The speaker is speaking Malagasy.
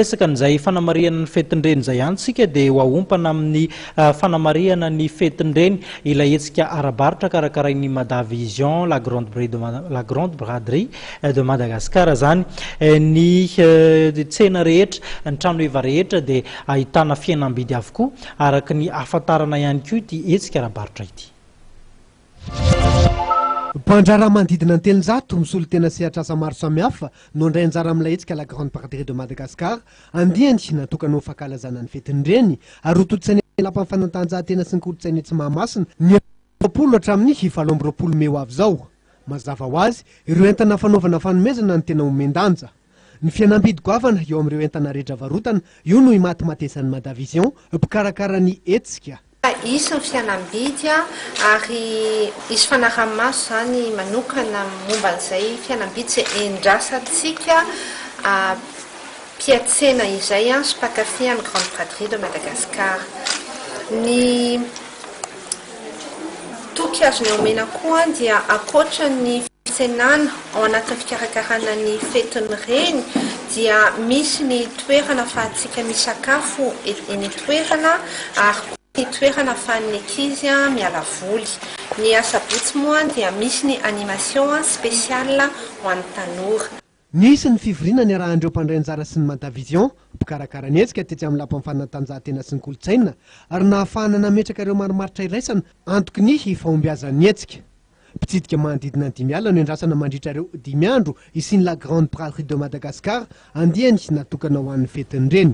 Resaka an'izay fanamarihana ny fetin-dreny izay any tsika dia ho ahompana amin'ny ah, fanamarihana ny fetin-dreny ilay hetsika ara-barotra karakarain'ny Mada Vision, la grande, bri de, la grande braderie eh, de Madagascar izany. Eh, ny eh, tsena rehetra, ny tranoheva rehetra dia ahitana fihenam-bidy avokoa araka ny ahafantarana ihany koa ity hetsika ara-barotra ity. Mpandraharaha manodidina ny telonjato misolo tena sehatr'asa maro samihafa no handray anjara amin'ilay hetsika La Grande Braderie de Madagascar, andiany natokana ho fankalazana ny fetin'ny Reny, ary hotontosaina eny Lapan'ny fanatanjahantena sy ny kolontsaina etsy Mahamasina, ny efapolo hatramin'ny valo amby roapolo mey ho avy izao. Mazava ho azy, ireo entana fanaovana fanomezana no tena omen-danja. Ny fihenam-bidy goavana eo amin'ireo entana rehetra varotana, io no imatimatesan'ny Madavision, mpikarakara ny hetsika. Fa hisy ny fihenam-bidy ary hisy fanaraha-maso izany manokana momba an'izay fihenam-bidy izay endrasantsika mpiatsena izay sy mpankafy an'i Grande Braderie de Madagascar. Ny. Toky azony omena koa dia ankoatra ny fitsenana ao anatin'ny fikarakarana ny fetin'ny reny dia misy ny toerana afahantsika misakafo eny an-toerana ary koa ny toerana afahan'ny ankizy miala voly. Ny asabotsy moa dia misy ny animation spéciale ho an'ny tanora. Nisy ny fivoriana niarahan'ireo mpandray anjara sy ny Madavision, mpikarakara ny hetsika tetsy amin'ny Lapan'ny fanatanjahantena sy ny kolontsaina, ary nahafahana nametraka ireo marimaritra iraisana antoky ny fahombiazan'ny hetsika. Mpitsidika manodidina ny dimy alina no endrasana mandritra ireo dimy andro hisian'ny La Grande Braderie de Madagascar, andiany natokana ho an'ny fetin'ny reny.